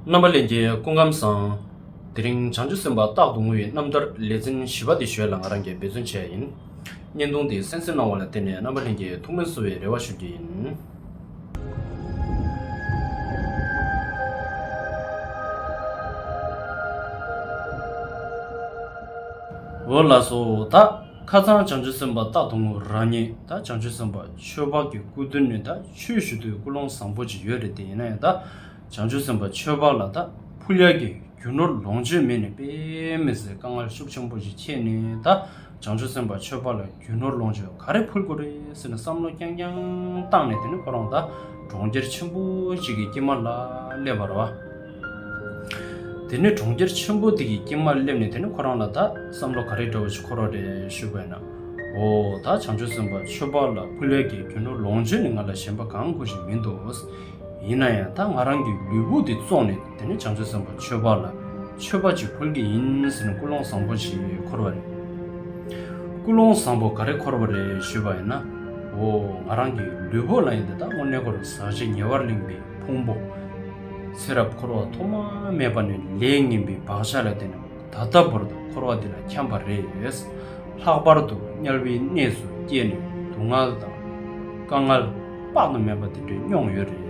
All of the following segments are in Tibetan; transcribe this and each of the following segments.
རྣམ་པ་ལེན་གྱི་སྐུ་ཁམས་བཟང། དེ་རིང་བྱང་ཆུབ་སེམས་དཔའ་རྟག་ཏུ་ངུ་བའི་རྣམ་ཐར་ལེ་ཚན་བཞི་པ་འདི་ཞོལ་ལ་ང་རང་གིས་འབད་བརྩོན་བྱས་ཡིན། བརྙན་ཐུང་འདི་གསན་གསོལ་གནང་བ་ལ་བརྟེན་ནས་རྣམ་པ་ལྷན་གྱིས་ཐུགས་སྨོན་གསོ་བའི་རེ་བ་ཞུ་རྒྱུ་ཡིན། འོ་ལགས་སོ་ད་ཁ་ཚང་བྱང་ཆུབ་སེམས་དཔའ་རྟག་ཏུ་ངུ་རང་ཉིད་ད་བྱང་ཆུབ་སེམས་དཔའ་ཆོས་འཕགས་ཀྱི་སྐུ་མདུན་ནས་ད་ཆོས་ཞུ་དུས་སྐུ་ལོང་བཟང་པོ་ཅིག་ཡོད་རེད་དེ་ཡིན་ན་ཡང་ད། བྱང་ཆུབ་སེམས་དཔའ་ཆོས་འཕགས་ལ་དྭགས་ཕུ་ལེགས་ཀྱི་རྒྱུ་ནོར་ལོངས་སྤྱོད་མེད་ནས་དཔེ་མི་ཟད་དཀའ་ངལ་ཤུགས་ཆེན་པོ་ཞིག་ཁྱེད་ནི་དྭགས་བྱང་ཆུབ་སེམས་དཔའ་ཆོས་འཕགས་ལ་རྒྱུ་ནོར་ལོངས་སྤྱོད་ག་རེ་ཕུལ་དགོས་རེད་ཟེར་ནས་བསམ་བློ་རྐྱང་རྐྱང་བཏང་ནས་དེ་ནས་ཁོ་རང་དྭགས་གྲོང་ཁྱེར་ཆེན་པོ་གཅིག་གི་དཀྱིལ་མ་ལ་སླེབས་པར་བ། དེ་ནས་གྲོང་ཁྱེར་ཆེན་པོ་དེ་གི་དཀྱིལ་མར་སླེབས་ནས་དེ་ནས་ཁོ་རང་ལ་དྭགས་བསམ་བློ་ག་རེ་འདྲ་བོ་ཞིག་འཁོར་བ་རེད་ཞུས་པས་ན། ཨོ་དྭགས་བྱང་ཆུབ་སེམས་དཔའ་ཆོས་འཕགས་ལ་ཕུ་ལེགས་ཀྱི་རྒྱུ་ནོར་ལོངས་སྤྱོད་ནི་ང་ལ་ཞེན་པ་གང་དགོས་ཞིག་མིན་འདུག། ཡིན་ན་ཡང་ད་ང་རང་གི་ལུས་པོ་འདི་བཙོངས་ནས་དེ་ནས་བྱང་ཆུབ་སེམས་དཔའ་ཆོས་འཕགས་ལ་མཆོད་པ་ཅིག་འཁོར་གྱི་ཡིན་ཟེར་ནས་ཀུན་སློང་བཟང་པོ་ཞིག་འཁོར་བ་རེད། ཀུན་སློང་བཟང་པོ་ག་རེ་འཁོར་བ་རེད་ཞུས་པ་ཡིན་ན། འོ་ང་རང་གི་ལུས་པོ་ལ་ཡིན་ཏེ་ད་དངོས་གནས་འཁོར་བའི་ཟག་བཅས་ཉེ་བར་གླིང་པའི་ཕུང་པོ། ཚེ་རབས་འཁོར་བ་ཐོག་མ་མེད་པ་ནས་ལས་ངན་པའི་བག་ཆགས་ལ་བརྟེན་ནས། ད་ལྟ་བར་དུ་འཁོར་བ་འདི་ལ་འཁྱམས་པ་རེ་ཡོད། ལྷག་པར་དུ་དམྱལ་བའི་གནས་སུ་སྐྱེས་ནས་སྡུག་བསྔལ་དང། དཀའ་བསྔལ། དཔག་ཏུ་མེད་པ་འདི་འདྲ་མྱོང་ཡོད་རེད།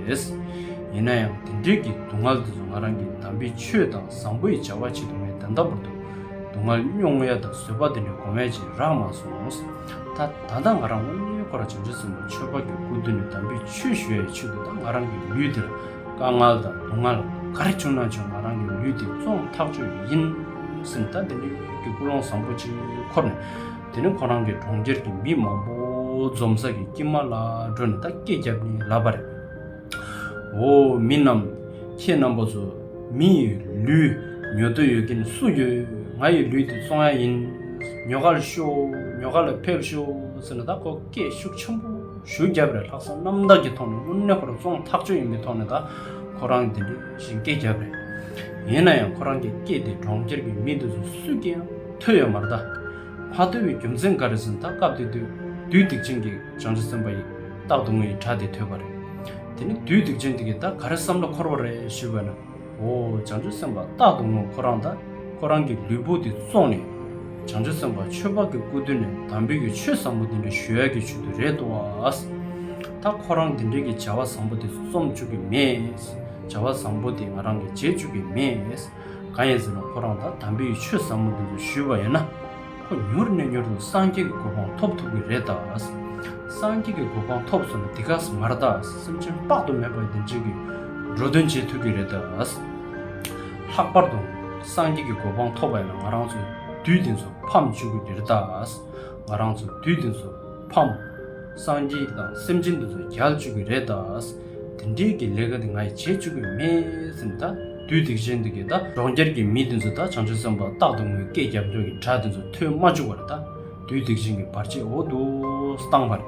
ཡིན་ན་ཡང་དེ་འདྲིའི་གི་སྡུག་བསྔལ་འདི་ཚོ་ང་རང་གིས་དམ་པའི་ཆོས་དང་བཟང་པོ་ཡི་བྱ་བ་བྱེད་དུ་མས་ད་ལྟ་བར་དུ་སྡུག་བསྔལ་མྱོང་ཡ་དང་བཟོད་པ་འདི་འདྲའི་གོ་མེད་ཅེས་རག་མ་སོང། ད་ད་ལྟ་ང་རང་དབང་ལྔའི་འཁོར་བ་བྱང་ཆུབ་སེམས་དཔའ་ཆོས་འཕགས་ཀྱི་སྐུར་འདུས་ནས་དམ་པའི་ཆོས་ཞུ་ཡ་ཡི་ཆེད་དུ་ད་ང་རང་གི་ལུས་འདི་ལ་དཀའ་ངལ་དང་སྡུག་བསྔལ་ག་རེ་བྱུང་ན་བྱུང་ང་རང་གི་ལུས་འདི་བཙོང་ཐག་གཅོད་རྒྱུ་ཡིན། སེམས་ཐག་འདི་ནི་ཡུལ་གྱི་ཀུན་སློང་བཟང་པོ་ཅིག་ཁོར་ནས། དེ་ནི་ཁོ་རང་གི་གྲོང་ཁྱེར་གྱི་མི་མང་པོ་འཛོམས་ས་གི་དཀྱིལ་མ་ལ་འགྲོ་ནས་ད་སྐད་བརྒྱབ་ནས་ལབ་པ་རེད། འོ་མི་རྣམས། ཁྱེད་རྣམ་པ་ཚོ་མི་ཡི་ལུས་ཉོ་འདོད་ཡོད་མཁན་སུ་ཡོད་ང་ཡི་ལུས་འདི་བཙོང་ཡ་ཡིན། ཉོ་ག་ལ་ཤོག་ཉོ་ག་ལ་ཕེབས་ཤོག་ཟེར་ན་ད་ཁོ་སྐད་ཤུགས་ཆེན་པོ། ཞུ་རྒྱབ་རེ་ལྷག་བསམ་རྣམ་དག་གི་ཐོག་ནས་དངོས་གནས་ཁོ་རང་བཙོང་ཐག་ཆོད་ཡིན་པའི་ཐོག་ནས་ད་ཁོ་རང་དེ་འདྲའི་ཞིག་སྐད་རྒྱབ་རེད། ཡིན་ན་ཡང་ཁོ་རང་གི་སྐད་དེ་གྲོང་ཁྱེར་གྱི་མི་འདི་ཚོ་སུས་ཀྱིས་ཡང་ཐོས་ཡོད་མ་རེད་ད། མ་ཐོས་པའི་རྒྱུ་མཚན་འགའ་རེ་ཟིན་ད་སྐབས་དེ་དུས་བདུད་སྡིག་ཅན་གྱིས་བྱང་ཆུ་བཙན་པ་ཡིས་རྟག་ཏུ་ངའི་གྲྭ་དེ་ཐོས་པ་རེད། དེ་ནི་བདུད་སྡིག་ཅན་དེ་གིས་ད་ག་རེ་བསམ་བློ་འཁོར་བ་རེད་ཞུས་པ་ན། འོ་བྱང་ཆུབ་སེམས་དཔའ་རྟག་ཏུ་ངོ་ཁོ་རང་དང་ཁོ་རང་གི་ལུས་པོ་འདི་བཙོངས་ནས། བྱང་ཆུབ་སེམས་དཔའ་ཆོས་འཕགས་ཀྱི་སྐུ་མདུན་ནས་དམ་པའི་ཡུལ་ཆོས་བཟང་པོ་འདི་འདྲ་ཞུ་ཡག་གི་ཆུ་དུ་རེད་འདུག་བཱ། ད་ཁོ་རང་འདི་འདྲ་གི་བྱ་བ་བཟང་པོ་འདི་རྩོམ་བཅུག་གི་མེད། བྱ་བ་བཟང་པོ་འདི་ང་རང་གི་བྱེད་བཅུག་གི་མེད། གང་ཡིན་ཟེར་ན་ཁོ་རང་དང་དམ་པའི་ཡུལ་ཆོས་བཟང་པོ་འདི་ཚོ་ཞུས་པ་ཡིན་ན། ཁོ་མྱུར་ནས་མྱུར་དུ་སངས་རྒྱས་ཀྱི་གོ་འཕང་ཐོབ་ཐུབ་ཀྱི་རེད་ད། སངས་རྒྱས་ཀྱི་གོ་འཕང་ཐོབ་སོང་ནས་དེ་ག་ས་མར་ད་སེམས་ཅན་དཔག་ཏུ་མེད་པ་བདེ་ཆེན་གྱི་འགྲོ་དོན་བྱེད་ཐུབ་ཀྱི་རེད་ད། ལྷག་པར་དུ་སངས་རྒྱས་ཀྱི་གོ་འཕང་ཐོབ་པ་ཡིན་ན་ང་རང་ཚོ་དུས་དེང་སོ་ཕམ་བཅུག་གི་རེད་ད། ང་རང་ཚོ་དུས་དེང་སོ་ཕམ། སངས་རྒྱས་དང་སེམས་ཅན་དེ་ཚོ་རྒྱལ་བཅུག་གི་རེད་ད། དེ་འདྲས་ཀྱི་ལས་ཀ་དེ་ང་ཡིས་བྱེད་བཅུག་གི་མེད་སེམས་ད། དུས་དེ་བཞིན་དུ་གདའ། གྲོང་ཁྱེར་གྱི་མི་དེ་ཚོ་ད་བྱང་ཆུབ་སེམས་པ་རྟག་ཏུ་ངུས་སྐད་རྒྱབ་ལྗོངས་ཀྱི་གྲགས་དེ་ཚོ་ཐོས་མ་བཅུག་པར་ད། དུས་དེ་བཞིན་གྱི་བར་ཆད་འོ་དོགས་སུ་བཏང་བར།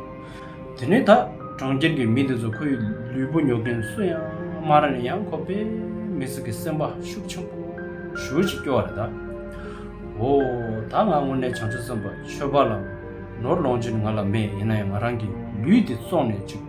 དེ་ནས་ད། གྲོང་ཁྱེར་གྱི་མི་དེ་ཚོ་ཁོའི་ལུས་པོ་ཉོག་མཁན་སུ་ཡང་མ་རེད་ཡང་ཁོ་པས་མི་ཟིག་གི་སེམས་པ་ཤུགས་ཆེན་པོ་ཞུ་ཅིག་སྐྱོ་བར་ད། འོ། ད་ང་དངོས་གནས་བྱང་ཆུབ་སེམས་པ་ཆོས་པ་ལ། ནོར་ལོངས་སྤྱོད་ནི་ང་ལ་མེད་ཡིན་ན་ཡང་ང་རང་གི་ལུས་དེ་བཙོངས་ནས་ཅིག་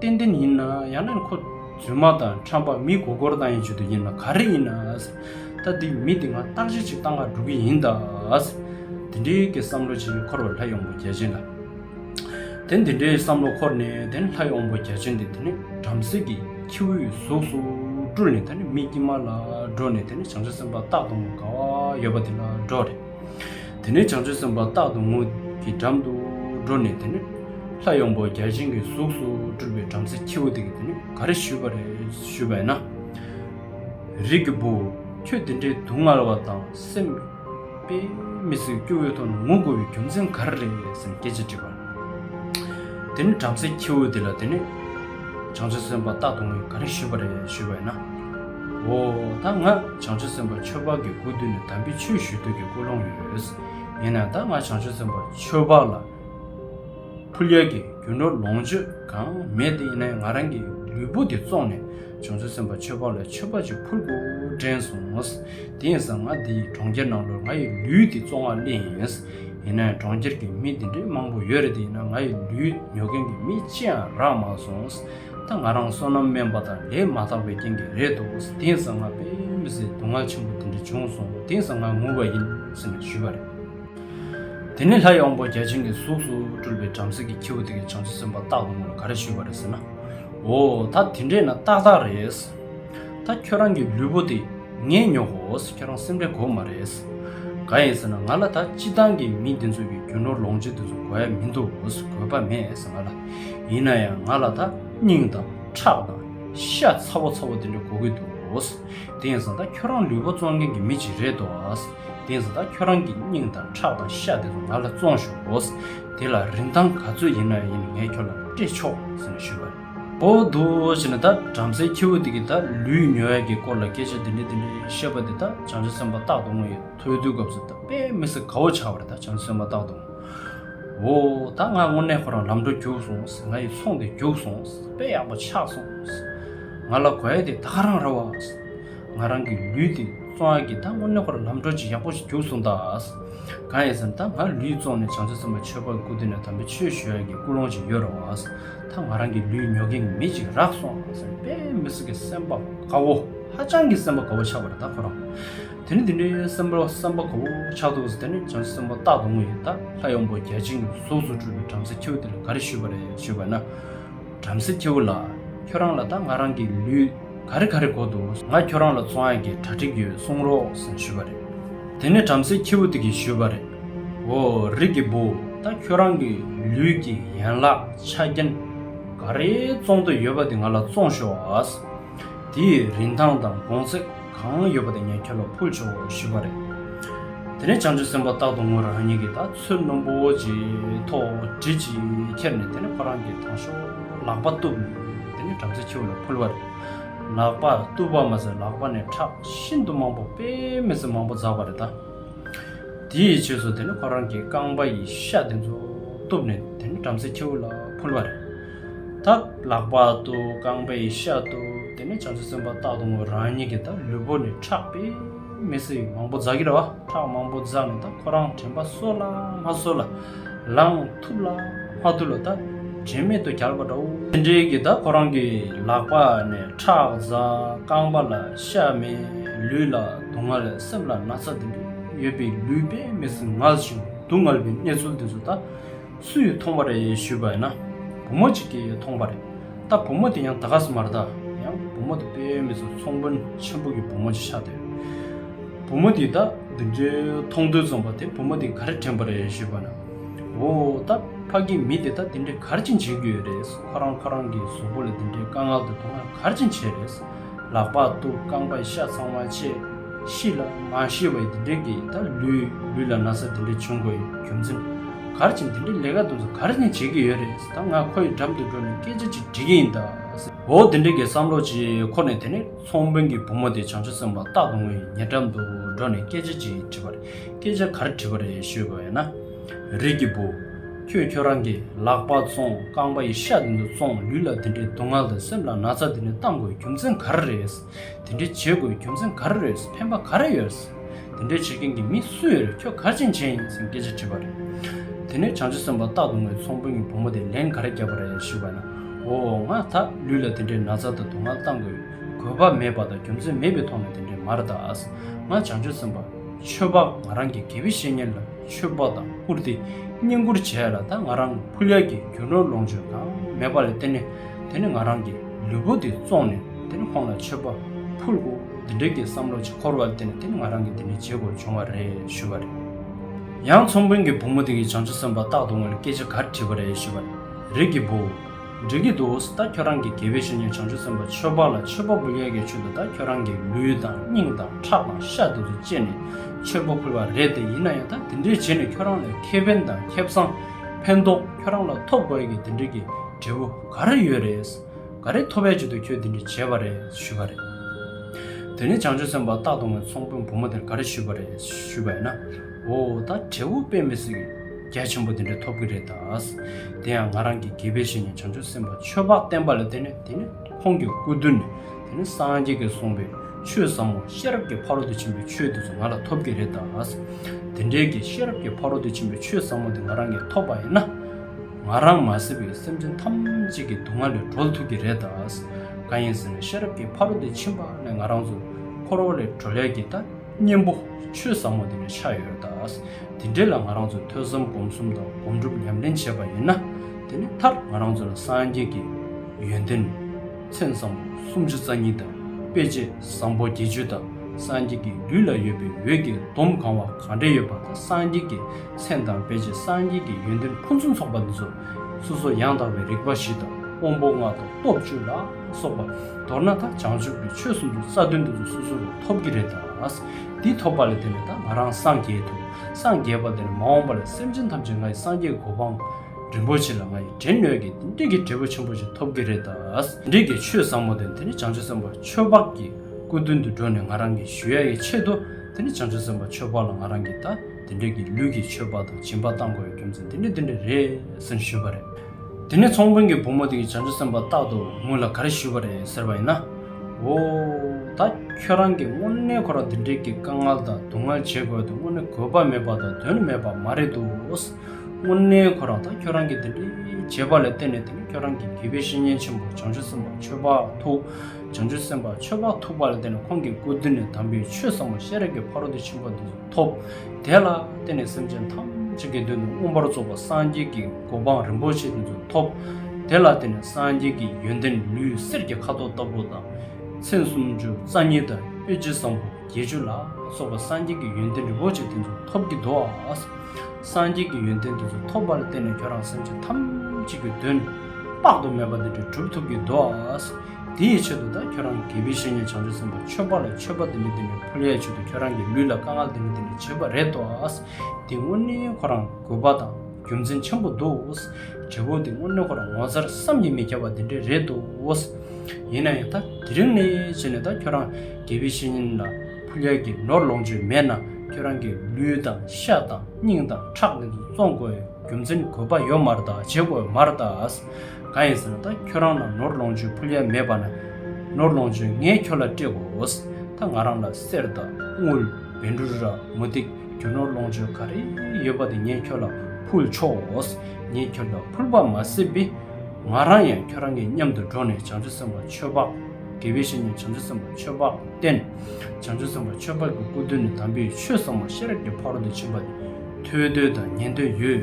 ཏན་ཏན་ཡིན་ན་ཡང་ན་ཁོ་རྫུན་མ་དང་ཁྲམ་པ་མི་མགོ་སྐོར་བཏང་ཡིན་ཆོད་དུ་ཡིན་ལ་ག་རེ་ཡིན་ན་ད་དེ་མི་དེ་ང་བརྟག་དཔྱད་ཅིག་བཏང་ང་འགྲོ་གི་ཡིན་ད་དེ་འདྲའི་གི་བསམ་བློ་ཅིག་འཁོར་བའི་ལྷ་ཡོང་པོ་རྒྱལ་ཆེན་ལ་དེ་འདི་འདྲའི་བསམ་བློ་འཁོར་ནས་དེ་ལྷ་ཡོང་པོ་རྒྱལ་ཆེན་དེ་དེ་ནས་བྲམ་ཟེ་གི་ཁྱེའུའི་གཟུགས་སུ་སྤྲུལ་ནས་དེ་ནས་མི་དཀྱིལ་མ་ལ་འགྲོ་ནས་དེ་ནས་བྱང་ཆུབ་སེམས་དཔའ་རྟག་ཏུ་ངོ་དགའ་བ་ཡོད་པ་དེ་ལ་འགྲོ་རེ། དེ་ནས་བྱང་ཆུབ་སེམས་དཔའ་རྟག་ཏུ་དངོས་ཀྱི་འགྲམ་དུ་འགྲོ་ནས་དེ་ནི། ལྷ་ཡངས་པོ་བརྒྱ་བྱིན་གྱི་གཟུགས་སུ་སྤྲུལ་པའི་བྲམ་ཟེ་ཁྱེའུ་དེ་གིས་དེ་ནི་ག་རེ་ཞུས་པ་རེད་ཞུས་པ་ཡིན་ན། རིགས་ཀྱི་བུ། ཁྱོད་དེ་འདྲའི་སྡུག་བསྔལ་བ་དང་སེམས་དཔའི་མི་སྲིད་སྐྱོ་བོའི་ཐོག་ནས་ངུ་དགོས་པའི་རྒྱུ་མཚན་ག་རེ་རེད་ཟེར་ནས་སྐད་ཅིག་དྲིས་པར། དེ་ནི་བྲམ་ཟེའི་ཁྱེའུ་དེ་ལ་དེ་ནི་བྱང་ཆུབ་སེམས་དཔའ་རྟག་ཏུ་ངས་ག་རེ་ཞུས་པ་རེད་ཞུས་པས་ན། འོ་ད་ང་བྱང་ཆུབ་སེམས་དཔའ་ཆོས་འཕགས་ཀྱི་སྐུ་མདུན་ནས་དམ་པའི་ཆོས་ཞུ་འདོད་ཀྱི་ཀུན་སློང་ཡོད། ཡིན་ན་ད་ང་བྱང་ཆུབ་སེམས་དཔའ་ཆོས་འཕགས་ལ་ཕུལ་རྒྱལ་གྱི་རྒྱུ་ནོར་ལོངས་སྤྱོད་གང་མེད་དེ་ཡིན་ན་ང་རང་གི་ལུས་པོ་འདི་བཙོང་ནས་བྱང་ཆུབ་སེམས་དཔའ་ཆོས་འཕགས་ལ་མཆོད་པ་ཅིག་ཕུལ་དགོས་དྲན་སོང། དེ་ཡིན་ཟ་ང་འདི་ཡི་གྲོང་ཁྱེར་ནང་ལོར་ང་ཡི་ལུས་འདི་བཙོང་བ་སླད་ཡིན། ཡིན་ནའི་གྲོང་ཁྱེར་གྱི་མི་འདི་འདྲའི་མང་པོ་ཡོད་རེད་དེ་ཡིན་ན་ང་ཡི་ལུས་ཉོ་མཁན་གྱི་མི་ཅི་ཡང་རག་མ་སོང། ད་ང་རང་སོ་ནམ་སྨན་པ་དང་ལས་མ་ཐག་པའི་རྐྱེན་གྱིས་རེད་འདུག་དེང་སང་ང་དཔེ་མི་སྲིད་དུག་ལྔ་ཆེན་པོ་འདི་འདྲ་བྱུང་སོང་དེང་སང་ང་ངུ་བ་ཡིན་ཟེར་ནས་ཞུས་པ་རེད། དེ་ནས་ལྷ་ཡངས་པོ་བརྒྱ་བྱིན་གྱི་གཟུགས་སུ་སྤྲུལ་པའི་བྲམ་ཟེ་གྱི་ཁྱེའུ་དེ་གའི་བྱང་ཆུབ་སེམས་དཔའ་རྟག་ཏུ་ངུ་ལ་ག་རེ་ཞུས་པ་རེད་ཟེར་ན། འོ་ད་དེ་འདྲས་ན་ཏག་ཏག་རེད། ད་ཁྱོད་རང་གི་ལུས་པོ་དེ་ངས་ཉོ་གོས་ཁྱོད་རང་སེམས་ཁྲལ་གོ་མ་རེད། ག་ཡིན་ཟེར་ན་ང་ལ་ད་སྤྱི་འདང་གི་མི་འདི་ཚོ་གི་རྒྱུ་ནོར་ལོངས་སྤྱི་འདི་ཚོ་གོ་ཡ་མི་འདུག་གོས་པ་མེད་ཟེར་ང་ལ། ཡིན་ན་ཡང་ང་ལ་ད་སྙིང་དང་ཁྲག་དང་ཤ་ཚ་བོ་ཚ་བོ་དེ་འདྲ་གོ་གི་འདུག་དེ་ཡིན་ཟེར་ད་ཁྱོད་རང་ལུས་པོ་བཙོང་མཁན་གི་མི་ཅིག་རེད་དོ། དེ་ཡིན་ཟེར་ད་ཁྱོད་རང་གི་སྙིང་དང་ཁྲག་དང་ཤ་དེ་ཚོ་ང་ལ་བཙོང་ཞོག་གོས་དེ་ལ་རིན་ཐང་ག་ཚོད་ཡིན་ན་ཡིན་ངས་ཁྱོད་ལ་སྤྲད་ཆོག་ཟེར་ནས་ཞུས་པ་རེད། པོ་འདུག་ཅེ་ན་ད་བྲམ་ཟེའི་ཁྱེའུ་དེ་གིས་ད་ལུས་མྱོས་ཡས་ཀྱི་སྐོར་ལ་སྐད་ཆ་འདི་འདྲ་འདི་འདྲ་བཤད་པ་དེ་ད་བྱང་ཆུབ་སེམས་དཔའ་རྟག་ཏུ་ངོ་ཡི་ཐོས་བསྡུའི་སྐབས་སུ་ད་དཔེ་མི་སྲིད་ག་འོ་ཆགས་པ་རེད་ད་བྱང་ཆུབ་སེམས་དཔའ་རྟག་ཏུ་ངོ། འོ་ད་ང་དངོས་གནས་ཁོ་རང་ལམ་འགྲོ་རྒྱུགས་སོང་ང་ཡི་ཚོང་དེ་རྒྱུགས་སོང་དཔེ་ཡག་པོ་ཆགས་སོང་ང་ལ་གོ་ཡས་དེ་ད་ག་རང་ར་བ་ང་རང་གི་ལུས་དེ་བཙོང་ཡས་ཀྱི་ད་དངོས་གནས་ཁོ་རང་ལམ་འགྲོ་ཅིག་ཡག་པོ་ཞིག་རྒྱུགས་སོང་ད་གང་ཡིན་ཟེར་ན་ད་ང་ལུས་བཙོང་ནས་བྱང་ཆུབ་སེམས་དཔའ་ཆོས་འཕགས་སྐུ་དེ་ནས་དམ་པའི་ཆོས་ཞུ་ཡས་ཀྱི་སྐུ་ལོངས་ཅིག་ཡོད་ར་བ། ད་ང་རང་གི་ལུས་ཉོ་མཁན་གྱི་མི་ཅིག་རག་སོང་ཟེར་ནས་དཔེ་མི་སྲིད་ཀྱི་སེམས་པ་དགའ་བོ་ཧ་ཅང་གི་སེམས་པ་དགའ་བོ་ཆགས་པ་རེད་ད་ཁོ་རང། དེ་ནི་དེ་འདྲའི་སེམས་པ་སེམས་པ་དགའ་བོ་ཆགས་འདུག་ཟེར་ནས་བྱང་སེམས་པ་རྟག་ཏུ་ངུ་ཡི་ད་ལྷ་ཡོང་པོ་རྒྱལ་ཆེན་གྱི་གཟུགས་སུ་གྲུབ་པའི་བྲམ་ཟེ་ཁྱེའུ་དེ་ལ་ག་རེ་ཞུས་པ་རེད་ཞུས་པ་ན། བྲམ་ཟེ་ཁྱེའུ་ལགས་ཁྱོད་རང་ལ་ད་ང་རང་གི་ལུས། ག་རེ་ག་རེ་གོ་འདུག་ང་ཁྱོད་རང་ལ་ཚོང་ཡག་གི་གྲ་སྒྲིག་ཡོད་གསུང་རོགས་ཟེར་ཞུས་པ་རེད། དེ་ནས་བྲམ་ཟེ་ཁྱི་བོ་དེ་གིས་ཞུས་པ་རེད། འོ་རིགས་ཀྱི་བུ་ད་ཁྱོད་རང་གི་ལུས་ཀྱི་ཡན་ལག་ཆ་རྐྱེན་ག་རེ་བཙོང་འདོད་ཡོད་པ་དེ་ང་ལ་བཙོང་ཤོག་ཨ། དེ་ཡི་རིན་ཐང་དང་དགོང་ཚད་གང་ཡོད་པ་དེ་ངས་ཁྱོད་ལ་ཕུལ་ཆོག་ཞུས་པ་རེད། དེ་ནས་བྱང་ཆུབ་སེམས་དཔའ་རྟག་ཏུ་ངུ་རང་ཉིད་ཀྱི་ད་ཚོད་རྣོན་པོ་ཅིག་ཐོག་གྲི་ཅིག་ཁྱེར་ནས་དེ་ནས་ཁོ་རང་གི་དང་ཤོག་ལག་པ་གཏུབས་ནས། དེ་ནས་བྲམ་ཟེ་ཆུ་བོ་ལ་ཕུལ་བ། ལག་པ་བཏུ་བ་མ་ཟད་ལག་པ་ནས་ཁྲག་ཤིན་ཏུ་མང་པོ་དཔེ་མི་སྲིད་མང་པོ་འཛག་པ་རེ་ད། དེ་ཡི་རྗེས་སུ་དེ་ནས་ཁོ་རང་གི་རྐང་པ་ཡི་ཤ་དེ་ཚོ་གཏུབས་ནས་དེ་ནས་བྲམ་ཟེ་ཆུ་བོ་ལ་ཕུལ་བ། ད་ལག་པ་བཏུ་རྐང་པ་ཡི་ཤ་བཏུ་དེ་ནས་བྱམས་བརྩེ་སེམས་དཔའ་སྟག་སྡོང་བོ་རང་ཉིད་ཀྱིས་ད་ལུས་པོ་ནས་ཁྲག་དཔེ་མི་སྲིད་མང་པོ་འཛག་གི་རེད་བ་ཁྲག་མང་པོ་འཛག་ནས་ད་ཁོ་རང་དྲན་པ་གསོ་ལ་མ་གསོ་ལ་ལངས། ཐུབ་ལ། སྔགས་དུ་ལ་དག་དྲི་མེད་དུ་གྱར་བ་འདྲའོ། རྟེན་འབྲེལ་གྱི་བདག་ཁོ་རང་གི་ལག་པ་ནས་ཁྲག་འཛག་རྐང་པ་ལ་ཤ་མེ་ལུས་ལ་སྡུག་བསྔལ་སེམས་ལ་ན་ཚ་དེ་འདྲ་ཡོད་པའི་ལུས་པས་མི་སེམས་ངལ་ཞིང་སྡུག་བསྔལ་བའི་གནས་ཚུལ་དེ་ཚོ་ད་སུས་མཐོང་བ་རེད་ཞུས་པ་ཡིན་ན་བུ་མོ་གཅིག་གིས་མཐོང་བ་རེད་ད་བུ་མོ་དེ་ཡང་ད་ག་ཟེ་མ་རེད་ད་ཡང་བུ་མོ་དེ་པས་མི་ཚོ་ཚོང་དཔོན་ཆེན་པོ་གི་བུ་མོ་ཅིག་ཆགས་འདུག་བུ་མོ་དེས་ད་འདི་འདྲའི་མཐོང་ཐོས་རྩོམ་པ་དེ་བུ་མོ་དེ་ག་རེ་དྲན་པ་རེད་ཞུས་པ་ན། འོ་ད་ཕ་གི་མི་དེ་ད་དེ་འདྲས་གར་ཅིན་བྱེད་གི་ཡོད་རེད་ཁོ་རང་ཁོ་རང་གི་གཟུགས་པོ་ལ་དེ་འདྲས་དཀའ་ངལ་དུ་མཐོང་ན་གར་ཅིན་བྱེད་རེད། ལག་པ་གཏུབ་རྐང་པ་བཤའ་ཚང་མ་བྱེད། ཤི་ལ་མ་ཤི་བའི་དེ་འདྲས་ཀྱི་ད་ལུས་ལུས་ལ་ན་ཚ་དེ་འདྲས་བྱུང་དགོས་རྒྱུ་མཚན་གར་ཅིན་དེ་འདྲས་ལས་ཀ་དུ་མཚོ་གར་ཅིན་བྱེད་གི་ཡོད་རེད་ད་ང་ཁོ་ཡི་འགྲམ་དུ་འགྲོ་ནས་སྐད་ཆ་ཅིག་འདྲི་གི་ཡིན་ད། འོ་དེ་འདྲས་ཀྱི་བསམ་བློ་ཅིག་ཁོ་ནས་དེ་ནས་ཚོང་དཔོན་གྱི་བུ་མོ་དེ་བྱང་ཆུ་སེམས་པ་རྟག་ཏུ་ངུ་ཡི་ངའི་འགྲམ་དུ་འགྲོ་ནས་སྐད་ཆ་ཅིག་འདྲི་བ་རེད། སྐད་ཆ་གར་དྲིས་པ་རེད་ཤོད་དགོས་ན། རིགས་ཀྱི་བུ། ཁྱོད་ཁྱོད་རང་གི་ལག་པ་བཙོང་རྐང་པ་ཡི་ཤ་དེ་ཚོ་བཙོང་ལུས་ལ་དེ་འདྲའི་སྡུག་བསྔལ་དང་སེམས་ལ་ན་ཚ་དེ་འདྲ་བཏང་དགོས་རྒྱུ་མཚན་ག་རེ་རེད། དེ་འདྲ་བྱེད་དགོས་རྒྱུ་མཚན་ག་རེ་རེད་ཕན་པ་ག་རེ་ཡོད། དེ་འདྲ་བྱེད་མཁན་གྱི་མི་སུ་ཡོད་རེད་ཁྱོད་ག་ཅན་བྱས་ཡིན་ཟེར་སྐད་ཆ་དྲིས་པ་རེད། དེ་ནས་བྱང་ཆུབ་སེམས་དཔའ་སྟག་དོང་ངོས་ཚོང་དཔོན་གྱི་བུ་མོ་དེས་ལན་ག་རེ་བརྒྱབ་པ་རེད་ཤོད་དགོས་ན། འོ་ང་ད་ལུས་ལ་དེ་འདྲའི་ན་ཚ་དང་སྡུག་བསྔལ་བཏང་དགོས་དགོས་པ་མེད་པ་དང་རྒྱུ་མཚན་མེད་པའི་ཐོག་ནས་དེ་འདྲའི་མ་རེད་ད། ང་བྱང་ཆུབ་སེམས་དཔའ། ཆོས་འཕགས་ང་རང་གི་དགེ་བའི་བཤེས་གཉེན་ལ་ཆོས་དཔའ་དང་བཀུར་སྟི་བསྙེན་བཀུར་བྱས་ལ་ད་ང་རང་ཕུལ་ལས་ཀྱི་རྒྱུ་ནོར་ལོངས་སྤྱོད་དང་མེད་པ་ལས་དེ་ནི་དེ་ནི་ང་རང་གི་ལུས་པོ་འདི་བཙོང་ནས་དེ་ནི་ཁོང་ལ་ཆོས་དཔའ་ཕུལ་གོ་འདི་འདྲའི་གི་བསམ་བློ་ཅི་འཁོར་བ་དེ་ནི་དེ་ནི་ང་རང་གི་འདི་ནི་བརྗེད་དགོས་བྱུང་བ་རེད་ཞུས་པ་རེད། ཡང་ཚོང་དཔོན་གྱི་བུ་མོ་དེ་གིས་བྱང་ཆུབ་སེམས་དཔའ་རྟག་ཏུ་ངོ་ལ་སྐད་ཆ་ག་རེ་དྲིས་པ་རེད་ཞུས་པ་རེད། རིགས་ཀྱི་བུ། འདྲི་གི་འདུག་ད་ཁྱོད་རང་གི་དགེ་བའི་བཤེས་གཉེན་བྱང་ཆུབ་སེམས་དཔའ་ཆོས་འབངས་ལ་ཆོས་པོ་འབུལ་ཡས་ཀྱི་ཆུ་དེ་དག་ཁྱོད་རང་གི་ལུས་དང་སྙིང་དང་ཁྲག་དང་ཤ་དུག་ཏུ་བཅད་ནས་ཆོས་པོ་ཕུལ་བ་རེད་དེ་ཡིན་ན་ཡང་ད་དེ་འདྲས་བྱས་ནས་ཁྱོད་རང་ལས་ཁེ་ཕན་དང་ཁེ་བཟང་ཕན་ཐོག་ཁྱོད་རང་ལ་ཐོབ་དགོས་ཀྱི་དེ་འདྲས་ཀྱི་འབྲས་བུ་ག་རེ་ཡོད་རེད། ག་རེ་ཐོབ་བས་ཆེད་དུ་ཁྱོད་དེ་འདྲས་བྱས་པ་རེད་ཞུས་པ་རེད། དེ་ནས་བྱང་ཆུབ་སེམས་དཔའ་སྟག་གདོང་བའི་ཚོང་དཔོན་བུ་མོ་དེར་ག་རེ་ཞུས་པ་རེད་ཞུས་པ་ཡིན་ན། འོ་ད་འབྲས་བུ་དཔེ་མི་སྲིད། རྒྱ་ཆེན་པོ་དེ་འདྲ་ཐོབ་གི་རེད་ད། དེ་ཡང་ང་རང་གི་དགེ་བའི་བཤེས་གཉེན་བྱང་ཆུབ་སེམས་དཔའ་ཆོས་འཕགས་བསྟན་པ་ལ་བརྟེན་ནས་དེ་ནི་ཁོང་གི་སྐུ་མདུན་ནས་དེ་ནི་སངས་རྒྱས་ཀྱིས་གསུངས་པའི་ཆོས་ཟབ་མོ་ཤེས་རབ་ཀྱི་ཕ་རོལ་ཏུ་ཕྱིན་པའི་ཆོས་དེ་ཚོ་ང་ལ་ཐོབ་གི་རེད་ད། དེ་འདྲའི་གི་ཤེས་རབ་ཀྱི་ཕ་རོལ་ཏུ་ཕྱིན་པའི་ཆོས་ཟབ་མོ་དེ་ང་རང་གིས་ཐོབ་པ་ཡིན་ན། ང་རང་མ་ཟེར་བའི་སེམས་ཅན་ཐམས་ཅད་ཀྱི་སྡུག་བསྔལ་ལས་གྲོལ་ཐུབ་གི་རེད་ད། གང་ཡིན་ཟེར་ན་ཤེས་རབ་ཀྱི་ཕ་རོལ་ཏུ་ཕྱིན་པ་ལས་ང་རང་ཚོ་འཁོར་བ་ལས་གྲོལ་ཡ་གི་ད། གཉེན་པོ། ཆོས་ཟབ་མོ་འདི་ནས་ཆགས་ཡོད་ད། དེ་འབྲེལ་ལ་ང་རང་ཚོས་ཐོས་བསམ་སྒོམ་གསུམ་དང་སྒོམ་སྒྲུབ་ཉམས་ལེན་བྱས་པ་ཡིན་ན། དེ་ནི་མཐར་ང་རང་ཚོ་ལ་སངས་རྒྱས་ཀྱི་ཡོན་ཏན། མཚན་བཟང་པོ་སུམ་ཅུ་རྩ་གཉིས་དང་དཔེ་བྱད་བཟང་པོ་བརྒྱད་ཅུ་དང་སངས་རྒྱས་ཀྱི་ལུས་ལ་ཡོད་པའི་འོད་ཀྱི་སྡོམ་གང་བ་གང་འདྲ་ཡོད་པ་དང་སངས་རྒྱས་ཀྱི་མཚན་དང་དཔེ་བྱད་སངས་རྒྱས་ཀྱི་ཡོན་ཏན་ཕུན་སུམ་ཚོགས་པ་འདི་ཚོ་སོ་སོ་ཡང་དག་པའི་རིག་པ་བཞི་དང་དབང་པོ་ལྔ་དང་སྟོབས་བཅུ་ལ། སོགས་པ། མདོར་ན་ད་བྱང་ཆུབ་ཀྱི་ཆོས་གསུམ་དུ་རྩ་བདུན་དུ་སོ་སོ་རུ་ཐོབ་ཀྱི་རེད་ད། འདི་ཐོབ་པ་ལས་དེ་ནས་ད་ང་རང་སངས་རྒྱས་ཐུབ། སངས་རྒྱས་པ་དེ་ནས་མ་འོངས་པ་ལ་སེམས་ཅན་ཐམས་ཅད་ང་ཡི་སངས་རྒྱས་གོ་འཕང། རིན་པོ་ཆེ་ལ་ང་ཡི་དྲན་ནུས་ཀྱི་དེ་འདྲིས་ཀྱི་འབྲས་བུ་ཆེན་པོ་ཞིག་ཐོབ་ཀྱི་རེད་ད། དེ་འདྲིས་ཀྱི་ཆོས་ཟབ་མོ་དེ་དེ་ནས་བྱང་ཆུབ་སེམས་དཔའ་ཆོས་འཕགས་ཀྱི་སྐུ་མདུན་དུ་འགྲོ་ནས་ང་རང་གི་ཞུ་ཡ་ཡི་ཆེད་དུ་དེ་ནས་བྱང་ཆུབ་སེམས་དཔའ་ཆོས་འཕགས་ལ་ང་རང་གི་ད་དེ་འདྲིས་ཀྱི་ལུས་ཀྱི་མཆོད་པ་དང་སྦྱིན་པ་གཏང་དགོས་ཡོད་རྒྱུ་མཚན་དེ་འདྲི་དེ་འདྲི་རེད་ཟེར་ཞུས་པ་རེད། དེ་ནས་ཚོང་དཔོན་གྱི་བུ་མོ་དེ་ཡིས་བྱང་ཆུབ་སེམས་དཔའ་རྟག་ཏུ་ངུ་ལ་ག་རེ་ཞུས་པ་རེད་ཟེར་བ་ཡིན་ན། འོ། ད་ཁྱོད་རང་གིས་དངོས་གནས་ཁོ་རང་འདི་འདྲའི་གི་དཀའ་ངལ་དང་སྡུག་བསྔལ་བྱེད་དགོས་དོན་དངོས་གནས་གོ་བ་མེད་པ་དང་དོན་མེད་པ་མ་རེད་འདུག་དངོས་གནས་ཁོ་རང་ད་ཁྱོད་རང་གིས་འདི་འདྲའི་བྱས་པ་ལ་བརྟེན་ནས་དེ་ནས་ཁྱོད་རང་གི་དགེ་བའི་བཤེས་གཉེན་ཆེན་པོ་བྱང་ཆུབ་སེམས་དཔའ་ཆོས་དཔའ་ཐུགས། བྱང་ཆུབ་སེམས་དཔའ་ཆོས་དཔའ་ཐུགས་པ་ལ་བརྟེན་ནས་ཁོང་གི་སྐུ་མདུན་ནས་དམ་པའི་ཆོས་བསམ་བློ་ཤེས་རབ་ཀྱི་ཕ་རོལ་ཏུ་ཕྱིན་པ་འདི། ཐོབ། དེ་ལ་བརྟེན་ནས་སེམས་ཅན་ཐམས་ཅད་ཀྱི་མདུན་དུ་མངོན་པར་རྫོགས་པ་སངས་རྒྱས་ཀྱི་གོ་འཕང་རིན་པོ་ཆེ་དེ་ཚོ་ཐོབ། དེ་ལ་བརྟེན་ནས་སངས་རྒྱས་ཀྱི་ཡོན་ཏན་ལུས་གསེར་གྱི་ཁ་དོག་ལྟ་བུ་དང། མཚན་སུམ་ཅུ་རྩ་གཉིས་དང་གཡོ་བྱེད་བཟང་པོ་བརྒྱད་ཅུ་ལ་སོགས་པ་སངས་རྒྱས་ཀྱི་ཡོན་ཏན་རིན་པོ་ཆེ་དེ་ཚོ་ཐོབ་ཀྱི་འདུག་ཨ། སངས་རྒྱས་ཀྱི་ཡོན་ཏན་དེ་ཚོ་ཐོབ་པ་ལ་བརྟེན་ནས་ཁྱོད་རང་སེམས་ཅན་ཐམས་ཅད་ཀྱི་དོན་དཔག་ཏུ་མེད་པ་འདི་འདྲ་བསྒྲུབ་ཐུབ་ཀྱི་འདུག་ཨ། དེ་ཡི་ཆེད་དུ་དང་ཁྱོད་རང་གི་དགེ་བའི་བཤེས་གཉེན་བྱང་ཆུབ་སེམས་དཔའ་མཆོད་པ་ལ་མཆོད་པ་འདི་ནི་འདི་ནས་ཕོ་ལྷའི་ཆེད་དུ་ཁྱོད་རང་གི་ལུས་ལ་དཀའ་ངལ་འདི་ནི་འདི་ནས་བྱེད་པ་རེད་དོ། འདི་དངོས་གནས་ཁོ་རང་དགོས་པ་དང་རྒྱུ་མཚན་ཆེན་པོ་འདུག། འབྲས་བུ་འདི་དངོས་གནས་ཁོ་རང་ངོ་མཚར་བསམ་གྱིས་མི་ཁྱབ་པ་འདི་འདྲས་རེད་དོ། ཡིན་ན་ཡང་ད་དེ་རིང་ནས་བྱས་ནས་དང་ཁྱོད་རང་དགེ་བའི་བཤེས་གཉེན་ལ་ཕོ་ལྷའི་གྱི་ནོར་ལོངས་སྤྱོད་མེད་ན་ཁྱོད་རང་གི་ལུས་དང་ཤ་དང་སྙིང་དང་ཁྲག་འདི་ཚོ་བཙོང་དགོས་ཡོད་རྒྱུ་མཚན་དགོས་པ་ཡོད་མར་ད་བྱེད་དགོས་མར་ད། ག་ཡིན་ཟེར་ན་ད་ཁྱོད་རང་ལ་ནོར་ལོངས་སྤྱོད་ཕུལ་ཡ་མེད་པ་ན། ནོར་ལོངས་སྤྱོད་ངས་ཁྱོད་ལ་སྤྲད་དགོས། ད་ང་རང་ལ་གསེར་དང་དངུལ། བན་འབྲུ་ར་མོ་སྟེགས་རྒྱུ་ནོར་ལོངས་སྤྱོད་ག་རེ་ཡོད་པ་དེ་ངས་ཁྱོད་ལ་ཕུལ་ཆོག། ངས་ཁྱོད་ལ་ཕུལ་བ་མ་ཟད་པི། ང་རང་ཡང་ཁྱོད་རང་གི་མཉམ་དུ་འགྲོགས་ནས་བྱང་ཆུབ་སེམས་དཔའ་ཆོས་འཕགས། དགེ་བའི་བཤེས་གཉེན་བྱང་ཆུབ་སེམས་དཔའ་ཆོས་འཕགས་བསྟེན། བྱང་ཆུབ་སེམས་དཔའ་ཆོས་འཕགས་ཀྱི་སྐུ་མདུན་ནས་དམ་པའི་ཆོས་གསང་བ་ཤེས་རབ་ཀྱི་ཕ་རོལ་ཏུ་ཕྱིན་པ་ནི། ཐོས་དོན་དང་ཉན་དོན་ཡོད།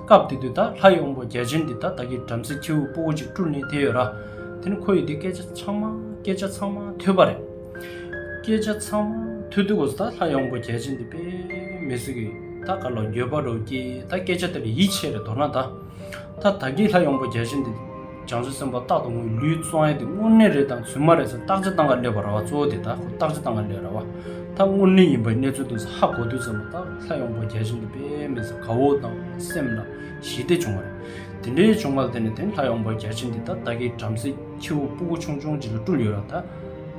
སྐབས་དེ་དུས་ད་ལྷ་གཡོག་པོ་རྒྱལ་ཆེན་འདི་དག་བདག་གི་བྲམ་ཟེ་ཁྱེའུ་སྤོ་བོ་ཅིག་བཀྲུ་ནས་དེ་ཡོད་ར། དེ་ནས་ཁོ་ཡིས་དེ་སྐད་ཆ་ཚང་མ་སྐད་ཆ་ཚང་མ་ཐོས་པ་རེད། སྐད་ཆ་ཚང་མ་ཐོས་དུས་སྐོར་ད་ལྷ་གཡོག་པོ་རྒྱལ་ཆེན་འདི་དཔེ་མི་གཟིགས་གི་ད་ག་ལ་འགྱོད་པ་རོ་སྐྱེས་ད་སྐད་ཆ་དེ་ལ་ཡིད་ཆེས་རེ་དོར་ན་ད། ད་ད་གིས་ལྷ་གཡོག་པོ་རྒྱལ་ཆེན་འདི། བྱང་ཆུབ་སེམས་དཔའ་རྟག་ཏུ་ངུས་ལུས་གཙང་ཡས་ཏེ་དངོས་གནས་རེད་དང་ཚུལ་མ་རེད་ཟེར་རྟག་ཅི་སྟང་ག་ལས་པ་ར་བ་གཙོ་བོ་དེ་དག་གོ་རྟག་ཅི་སྟང་ག་ལས་ར་བ་དག་དངོས་གནས་ཡིན་པའི་གནས་ཚུལ་དུ་ས་ཧ་གོ་དུས་ཚོད་མ་ཐག་ལྷ་ཡོང་པོ་རྒྱལ་ཆེན་དུ་དཔེ་མེད་ས་ག་འོག་དང་སེམས་ལ་ཞི་བདེ་བྱུང་བ་རེད་དེ་འདྲའི་བྱུང་བ་ལ་བརྟེན་ནས་དེང་ལྷ་ཡོང་པོ་རྒྱལ་ཆེན་འདི་དག་ད་གིའི་བྲམ་ཟེ་ཁྱེ་བོ་སྤུ་གུ་ཆུང་ཆུང་ཅིག་ལ་སྤྲུལ་ཡོད་ར་ད་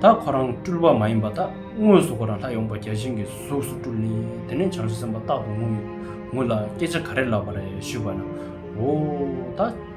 ད་ཁོ་རང་སྤྲུལ་བ་མ་ཡིན་པ་ད་དངོས་སུ་ཁོ་རང་ལྷ་ཡོང་པོ་རྒྱལ་ཆེན་གྱི་གཟུགས་སུ་སྤྲུལ་ནས་དེ་ནས་བྱང་ཆུབ་སེམས་དཔའ་རྟག་ཏུ་ངུས་ལ་སྐད་ཆ་ག་རེ་ལབ་པ་རེད་ཞུས་པ་ན་འོ་ད།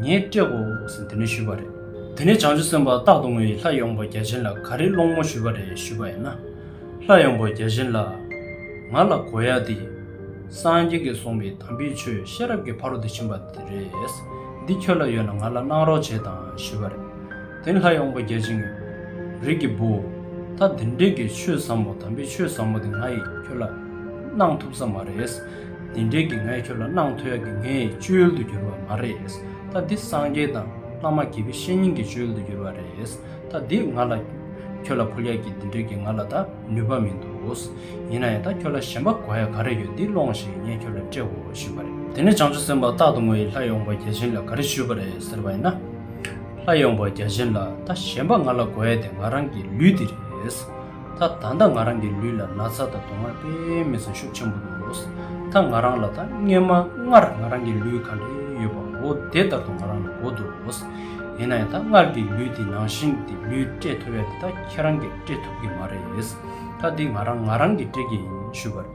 ངས་སྤྲད་གོ་ཟེར་དེ་ནས་ཞུས་པ་རེད། དེ་ནས་བྱང་ཆུབ་སེམས་དཔའ་རྟག་ཏུ་ངོས་ཡིས་ལྷ་ཡོངས་པ་བརྒྱ་བྱིན་ལ་ག་རེ་སློང་ངོ་ཞུས་པ་རེད་ཞུས་པ་ཡིན་ན། ལྷ་ཡོངས་པ་བརྒྱ་བྱིན་ལ། ང་ལ་གོ་ཡ་འདི། སངས་རྒྱས་ཀྱིས་གསུངས་པའི་དམ་པའི་ཆོས་ཤེས་རབ་ཀྱི་ཕ་རོལ་ཏུ་ཕྱིན་པ་འདི་རེད། འདི་ཁྱོད་ལ་ཡོད་ན་ང་ལ་གནང་རོགས་བྱེད་དང་ཞུས་པ་རེད། དེ་ནས་ལྷ་ཡོངས་པ་བརྒྱ་བྱིན་གྱིས། རིགས་ཀྱི་བུ། ད་འདི་འདྲས་ཀྱི་ཆོས་ཟབ་མོ་དམ་པའི་ཆོས་ཟབ་མོ་འདི་ང་ཡིས་ཁྱོད་ལ་གནང་ཐུབ་ས་མ་རེད། དེ་འབྲེལ་གྱི་ངས་ཁྱོད་ལ་གནང་ཐོས་ཀྱི་ངའི་བཅུད་དུ་གྱུར་བ་མ་རེད། ད་འདི་སངས་རྒྱས་དང་བླ་མ་དགེ་བའི་བཤེས་གཉེན་གྱི་བཅུད་དུ་གྱུར་བ་རེད། ད་འདི་ང་ལ། ཁྱོད་ལ་ཕོ་ལྷས་ཀྱིས་འདི་འདྲས་ཀྱི་ང་ལ་ད་ནུས་པ་མི་འདུག། ཡིན་ན་ཡང་ད་ཁྱོད་ལ་ཞེན་པ་གོ་ཡ་ག་རེ་ཡོད་འདི་སློང་ཞིག་ངས་ཁྱོད་ལ་སྤྲད་འོ་ཞུས་པ་རེད། དེ་ནས་བྱང་ཆུབ་སེམས་དཔའ་རྟག་ཏུ་ངོ་ཡི་ལྷ་ཡོངས་པ་བརྒྱ་བྱིན་ལ་ག་རེ་ཞུས་པ་རེད་ཟེར་བ་ཡིན་ན། ལྷ་ཡོངས་པ་བརྒྱ་བྱིན་ལ་ད་ཞེན་པ་ང་ལ་གོ་ཡ་དེ་ང་རང་གི་ལུས་འདི་རེད། ད་ད་ད་ང་རང་གི་ལུས་ལ་ན་ཚ་དང་དུང་བ་དཔེ་མེད་ས་ཤུགས་ཆེན་པོ་འདུག་ད་ང་རང་ལ་ད་སྔོན་མ་སྔར་ང་རང་གི་ལུས་གང་འདྲ་ཡོད་པ་འོ་དེ་ལྟར་དུ་ང་རང་ལ་གོ་འདུག་ཡིན་ན་ཡང་ད་སྔར་གྱི་ལུས་དེ་ནང་བཞིན་དེ་ལུས་སྤྲད་ཐུབ་ཡ་དེ་ད་ཁྱེད་རང་གིས་སྤྲད་ཐུབ་ཀྱི་མ་རེད་ད་འདི་ང་རང་ང་རང་གིས་སྤྲད་ཀྱི་ཡིན་ཞུས་པར།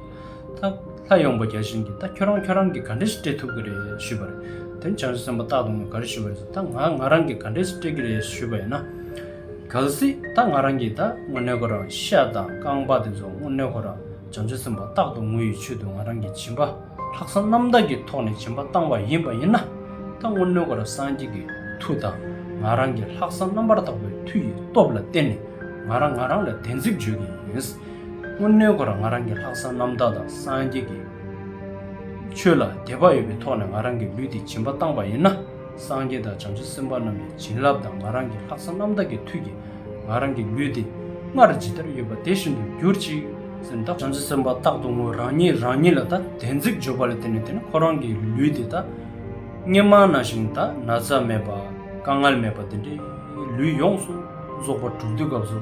ད་ལྷ་ཡོང་པ་བརྒྱ་བྱིན་གྱིས་ད་ཁྱོད་རང་ཁྱོད་རང་གིས་ག་འདྲས་སུ་སྤྲད་ཐུབ་ཀྱི་རེད་ཞུས་པར། དེར་བྱང་ཆུབ་སེམས་དཔའ་སྟག་དོང་གིས་ག་རེ་ཞུས་པ་རེད་ཟེར་ད་ང་ང་རང་གིས་ག་འདྲས་སུ་སྤྲད་ཀྱི་རེད་ཞུས་པ་ཡིན་ན། གལ་སྲིད་ད་ང་རང་གིས་ད་དངུལ་སྣོད་ཁོ་རང་ཤ་དང་རྐང་པ་དེ་ཚོ་དངུལ་སྣོད་ཁོ་རང་བྱང་ཆུབ་སེམས་དཔའ་སྟག་དོང་དངུལ་ཡོད་ཆུད་དུ་ང་རང་གིས་བྱིན་པ་ལྷག་བསམ་རྣམ་དག་གི་ཐོག་ནས་བྱིན་པ་བཏང་བ་ཡིན་པ་ཡིན་ན། ད་དངུལ་སྣོད་ཁོ་རང་སངས་རྒྱས་ཀྱི་མཐུ་དང་ང་རང་གི་ལྷག་བསམ་རྣམ་པར་དག་པའི་མཐུ་ཡི་སྟོབས་ལ་བརྟེན་ནས་ང་རང་ང་རང་ལ་བདེན་ཚིག་བརྗོད་ཀྱི་ཡིན། སྔོན་གནས་སྐོར་ང་རང་གི་ལྷག་བསམ་རྣམ་དག་དང་སངས་རྒྱས་ཀྱི་ཆོས་ལ་དད་པ་ཡོད་པའི་ཐོག་ནས་ང་རང་གི་ལུས་འདི་བྱིན་པ་བཏང་བ་ཡིན་ན་སངས་རྒྱས་དང་བྱང་ཆུབ་སེམས་དཔའ་རྣམས་ཀྱི་བྱིན་རླབས་དང་ང་རང་གི་ལྷག་བསམ་རྣམ་དག་གི་མཐུ་གྱིས་ང་རང་གི་ལུས་འདི་སྔར་ཇི་ལྟར་ཡོད་པ་དེ་བཞིན་དུ་གྱུར་ཅིག་སེམས་དང། བྱང་ཆུབ་སེམས་དཔའ་རྟག་ཏུ་ངོས་རང་ཉིད་རང་ཉིད་ལ་ད་དན་ཚིག་བརྗོད་པ་ལ་བརྟེན་ནས་དེ་ནི་ཁོ་རང་གི་ལུས་འདི་ད་སྙེ་མ་ན་ཞིང་ད་ན་ཚ་མེད་པ་དཀའ་ངལ་མེད་པ་འདི་འདྲའི་ལུས་ཡོངས་སུ་རྫོགས་པར་གྲུབ་དུས་སྐབས་སུ།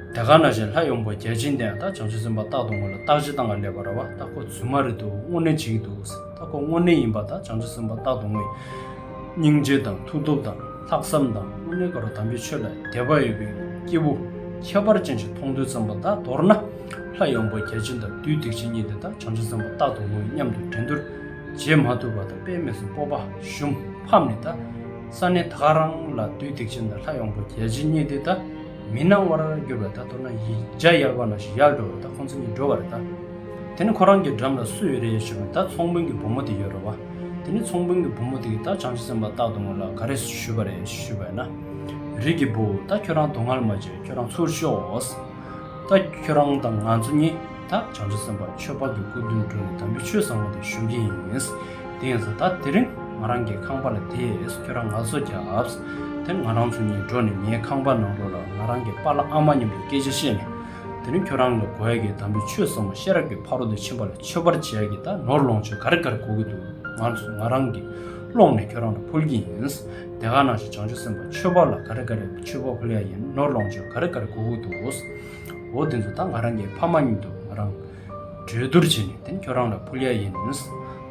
དེ་ག་ན་བཞིན་ལྷ་ཡོངས་པོ་བརྒྱ་བྱིན་དེ་ཡང་ད་བྱང་ཆུབ་སེམས་དཔའ་རྟག་ཏུ་ངོ་ལ་རྟག་ཅི་དང་ང་ལས་པ་ར་བ་ད་ཁོ་ཚུལ་མ་རེད་འདུག་དངོས་གནས་བྱིན་གྱི་འདུག་ཟེར་ད་ཁོ་དངོས་གནས་ཡིན་པ་ད་བྱང་ཆུབ་སེམས་དཔའ་རྟག་ཏུ་ངོ་ཡིན། སྙིང་རྗེ་དང་མཐུ་སྟོབས་དང་ལྷག་བསམ་དང་དངོས་གནས་ཀ་རོ་དམ་པའི་ཆོས་ལ་དད་པ་ཡོད་པའི་སྐྱེས་བུ་ཁྱད་པར་ཅན་ཞིག་མཐོང་ཐོས་ཙམ་པ་ད་མདོར་ན་ལྷ་ཡོངས་པོ་བརྒྱ་བྱིན་དང་བདུད་སྡིག་ཅན་གཉིས་དེ་ད་བྱང་ཆུབ་སེམས་དཔའ་རྟག་ཏུ་ངོ་ཡིན་སྙམ་དུ་འགྲན་བསྡུར་བྱེད་མ་ཐུབ་པ་ད་དཔེ་སྨོས་སུ་སྤོབས་པ་ཞུམ་ཕམ་ནི་ད་ས་གནས་ད་ག་རང་ལ་བདུད་སྡིག་ཅན་དང་ལྷ་ཡོངས་པོ་བརྒྱ་བྱིན་གཉིས་དེ་ད། མི་སྣང་བར་གྱུར་པ་དག་དོར་ན་ཡིད་འཇའ་ཡལ་བ་ན་ཞིག་ཡལ་འགྲོ་བ་དག་ཁོང་ཚོ་གཉིས་འགྲོ་བར་བལྟ། དེ་ནི་ཁོ་རང་གི་འགྲམ་ལ་སུ་ཡོད་རེད་ཞུས་པར་ད་ཚོང་དཔོན་གྱི་བུ་མོ་དེ་ཡོད་རེད་བ། དེ་ནི་ཚོང་དཔོན་གྱི་བུ་མོ་དེ་གིས་ད་བྱང་ཆུ་སེམས་པ་རྟག་ཏུ་ངོ་ལ་ག་རེ་ཞུས་པ་རེད་ཞུས་པས་ན། རིགས་ཀྱི་བུ། ད་ཁྱོད་རང་དུ་ངར་མ་བྱེད་ཁྱོད་རང་ཚུར་ཤོག། ད་ཁྱོད་རང་དང་ང་ཚོ་གཉིས། ད་བྱང་ཆུབ་སེམས་དཔའ་ཆོས་འཕགས་ཀྱི་སྐུ་དུད་འགྲོ་ནས་དམ་པའི་ཆོས་བཟང་བོ་དེ་ཞུ་གི་ཡིན། དེ་ཡིན་ཟེར་ད་དེ་རིང་ང་རང་གི་ཁང་པ་ལ་དེས་ཁྱོད་རང་ང་ཚོ་རྒྱབ། དེ་ང་རང་ཚོ་གཉིས་འགྲོ་ནས་ངའི་ཁང་པ་ནང་འགྲོ་ལ་ང་རང་གི་པཱ་ལ་ཨ་མ་སྙམ་པའི་སྐད་ཆ་བཤད་ནས། དེ་རིང་ཁྱོད་རང་ལ་གོ་ཡ་གི་དམ་པའི་ཆོས་བཟང་བོ་ཤེས་རབ་ཀྱི་ཕ་རོལ་ཏུ་ཕྱིན་པ་ལ་མཆོད་པར་བྱེད་ཡ་གི་ད་ནོར་ལོངས་སྤྱོད་གར་གར་གོ་གི་འདུག་ང་ཚོ་ང་རང་གི་ཀློག་ནས་ཁྱོད་རང་ལ་ཕུལ་གྱི་ཡིན། དེ་ག་ནང་བཞིན་བྱང་ཆུབ་སེམས་དཔའ་ཆོས་འཕགས་ལ་ག་རེ་ག་རེ་མཆོད་པ་ཕུལ་ཡ་ཡིན་ནོར་ལོངས་སྤྱོད་ག་རེ་ག་རེ་གོ་གི་འདུག། འོ་དེ་ཚོ་ད་ང་རང་གི་ཕ་མ་ཉིད་འདུག་ང་རང་གྲོས་བསྡུར་བྱས་ནས་དེ་ཁྱོད་རང་ལ་ཕུལ་ཡ་ཡིན།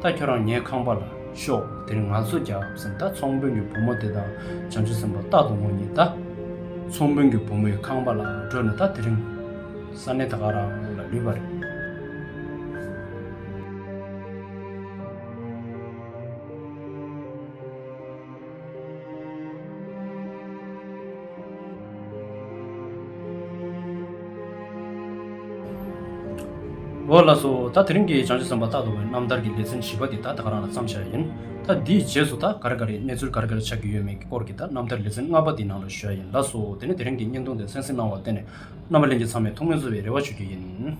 ད་ཁྱོད་རང་ངའི་ཁང་པ་ལ་ཤོག་དེར་ང་ཚོ་རྒྱག་བསམ་ད་ཚོང་དཔོན་གྱི་བུ་མོ་དེ་དང་བྱང་ཆུབ་སེམས་དཔའ་རྟག་ཏུ་ངོ་གཉིས་ད་ཚོང་དཔོན་གྱི་བུ་མོའི་ཁང་པ་ལ་འགྲོ་ནས་ད་དེ་རིང་ས་གནས་ད་ག་རང་ལ་ལུས་པ་རེད། འོ་ལགས་སོ། ད་དེ་རིང་གི་བྱང་ཆུབ་སེམས་དཔའ་རྟག་ཏུ་བའི་རྣམ་ཐར་གྱི་ལེ་ཚན་བཞི་པ་འདི་ད་ད་ག་རང་ལ་བརྩམས་བཞག་ཡིན། ད་འདིའི་རྗེས་སུ་ད་ག་རེ་ག་རེའི་གནས་ཚུལ་ག་རེ་ག་རེ་ཆགས་ཀྱི་ཡོད་མེད་ཀྱི་སྐོར་གྱི་ད་རྣམ་ཐར་ལེ་ཚན་ལྔ་པ་འདིའི་ནང་ལ་བཞག་ཡིན་ལགས་སོ། དེ་ནས་དེ་རིང་གི་བརྙན་ཐུང་འདི་གསན་གཟིགས་གནང་བར་བརྟེན་ནས་རྣམ་པ་གླིང་གི་ཚང་མས་ཐུགས་སྨོན་བསུ་བའི་རེ་བ་ཞུ་རྒྱུ་ཡིན།